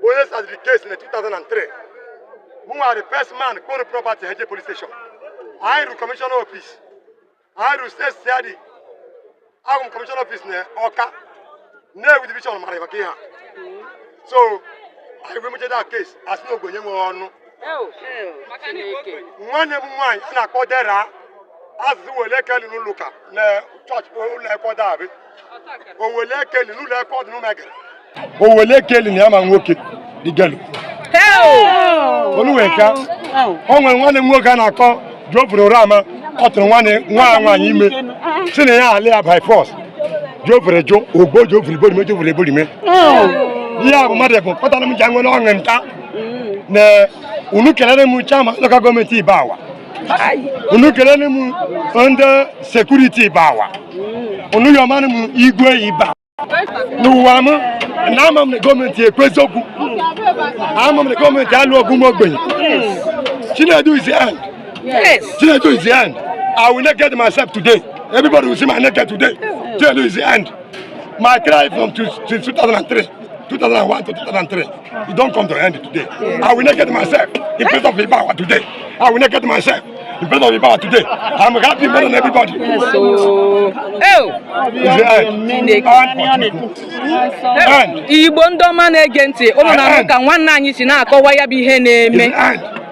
bụ onye startiri case na 2003 mụnwa the first man kpọrọ property heje police station anyị ru commissioner office anyị ru State CID ahụ m commissioner office na ọka na-ewu division mara maka ihe a so anyị wee mechaa that case a sị na ogbenye nwere ọnụ nwanne m nwaanyị a na-akpọ dera azụ wele ekeli n'ụlọ ụka na church ụlọ ekwe dabị owele ekeli n'ụlọ ekwe ọdụ n'ụmegere owele ekeli na ya ma nwoke digelu oluweka o nwere nwanne m nwoke a na-akpọ Geoffrey Urama ọ tụrụ nwanne m nwaanyị ime sị na ya alụ ya by force Geoffrey jụ o gbuo Geoffrey iborime Geoffrey iborime ihe a bụ mmadụ bụ kpatara m ji anwere ọṅụ nta na unu kelere m chairman local government Ibagwa unu kelere m ndị security Ibagwa unu yọmanụ m igwe Ibagwa n'ụwa m na ama m na gọọmenti ekwu eziokwu ama m na gọọmenti alụ ọgụ ụmụ ogbenye Chinedu is the end Chinedu is the end I will not get myself today everybody will see my naked today Chinedu is the end my cry from 2003 2001 to 2003 It don come to end today. I will not get myself in place of Ibagwa today. I will not get myself in place of Ibagwa today. I'm happy more than everybody. Yes, so... Oh! Igbo ndị ọma na-ege ntị ụnụ na-ahụ ka nwanne anyị si na-akọwa ya bụ ihe na-eme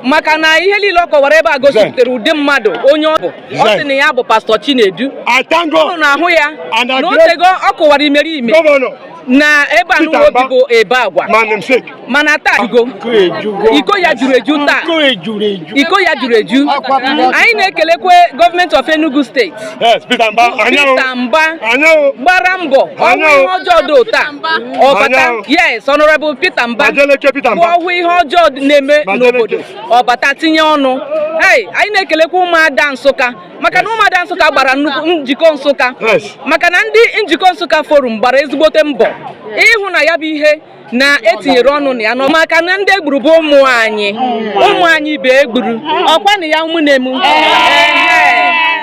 maka na ihe niile ọ kọwara ebe a gosipụtara ụdị mmadụ onye ọ bụ ọ sị na ya bụ Pastor Chinedu ụnụ na-ahụ ya na otego ọ kọwara imeriime na ebe a nụwa o bi bụ Ibagwa mana taa iko ya juru eju taa iko ya juru eju anyị na-ekelekwa government of Enugu State Peter Mba gbara mbọ ọ hụ ihe ọjọọ dị otu a ọ bata yes Honorable Peter Mba bụ ọ hụ ihe ọjọọ na-eme n'obodo ọ bata tinye ọnụ anyị na-ekelekwa ụmụada Nsụka maka na ụmụada nsụka gbara nnukwu njikọ nsụka maka na ndị njikọ nsụka forum gbara ezigbote mbọ ịhụ na ya bụ ihe na e tinyere ọnụ na ya nọ maka na ndị e gburu bụ ụmụ anyị ụmụ anyị bụ e gburu ọkwa na ya ụmụnne m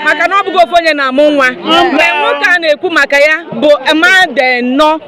maka na ọ bụghị ofu onye na-amụ nwa mgbe nwoke a na-ekwu maka ya bụ mmadụ nọ